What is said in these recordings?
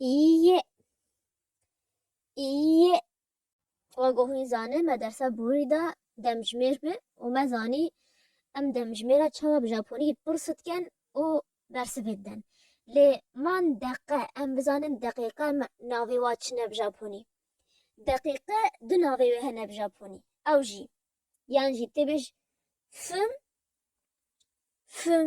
İyi. İyi. Vagohi zane me dersa buri da demjmêr bi û me zanî em demjmêra çawa bi Japonî pir sutken û bersivê den. Lê man deqe em bizanin deqîqa navê wa çi ne bi Japonî. Deqîqe du navê wê hene bi Japonî. Ew jî yan jî tê bêj fim fim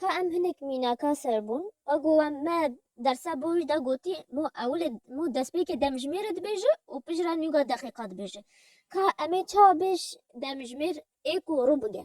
Ka em hinek mînaka ser bûn, wa ku we me dersa boj de gotî mo ewilê mo destpêkê demjimêrê dibêje û pijra nûga deqîqa dibêje. Ka em ê çawa bêj demjimêr ê ku rû bige?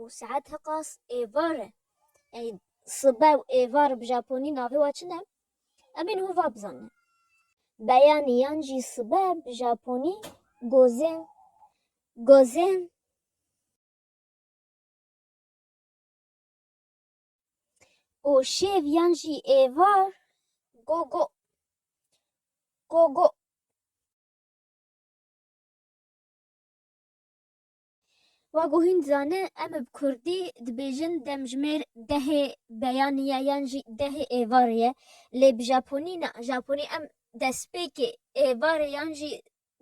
Û saet hiqas êvar e. Yanî sibe û êvar bi japonî navê wa çi ne? Em ên hova bizane. Beyanî yan jî sibe bi japonî gozen, gozen. Û şêv yan jî êvar gogo, gogo. Wa ku hîn dizane em bi kurdî dibêjin demjimêr dehê beyanî ye yan jî dehê êvarê ye lê bi japonî na, japonî em destpêkê êvarê yan jî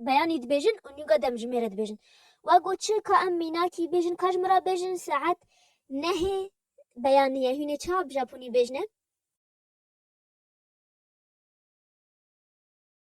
beyanî dibêjin û nûga demjimêrê dibêjin. Wa ku çi ka em mînakî bêjin ka ji min re bêjin saet nehê beyanî ye hînê çawa bi japonî bêjine?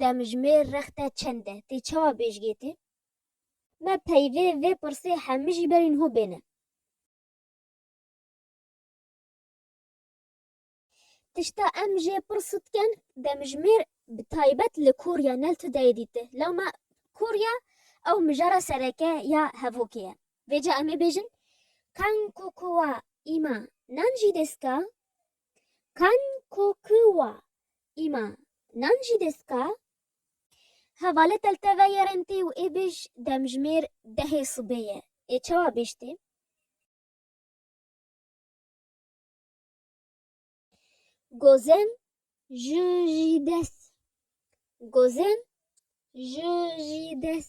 Demjimêr rexte çend e? Tê çawa bêjgê tê? Me peyvê vê pirsê hemî jî berî niho bêne. Tişta em jê pir sitken demjimêr bi taybet li Korya nel tu dayê dîti. Lewma Korya ew mijara sereke ya hevokê ye. Vêca em ê bêjin Kankokowa îma nan jî dêska Kan ko ki wa îma nan jî dest ka. Hevale telte veye rentê û ê bêj demjimêr dehê sibê ye. Ê çawa bêj tê? Gozên ji jî des. Gozên ji jî des.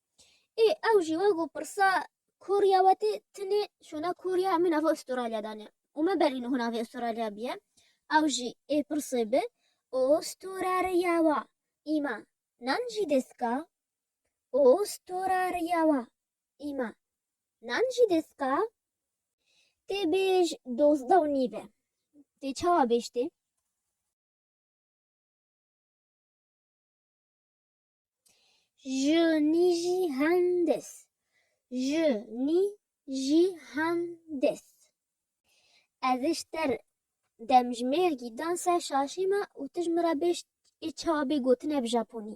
Ê ew jî wek û pirsa koriya we tê tinê şona koriya min nava Astralya danê û me berîn hûn navê Astralya biye ew jî ê pirsê bi û storariya wa îma nan jî deska û storariya wa îma nan jî deska tê bêj dozda û nîv e tê çawa bêj tê Ji nî jî hendis. Ji nî jî hendis. Ez ji ter demjimêrgî dan ser şaşê me û tu ji min re bêj ê çawa bê gotine bi japonî.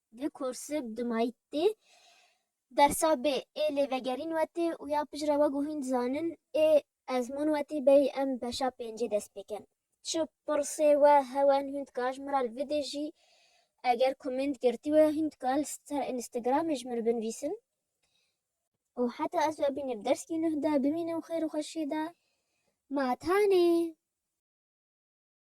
Li Korsib di Mayîttê dersa bê ê lê vegerîn wetê û ya pijra we ku hîn dizanin ê ezmûn wetê beyî em beşa pêncê dest pê kin. Çi pirsê we hewen hîn dikar ji min re li vidê jî eger komênt girtî we hîn dikar li ser Instagramê ji min re binvîsin û heta ez we bînim dersî nuh de bimînim xêr û xweşiyê de. Ma tanê.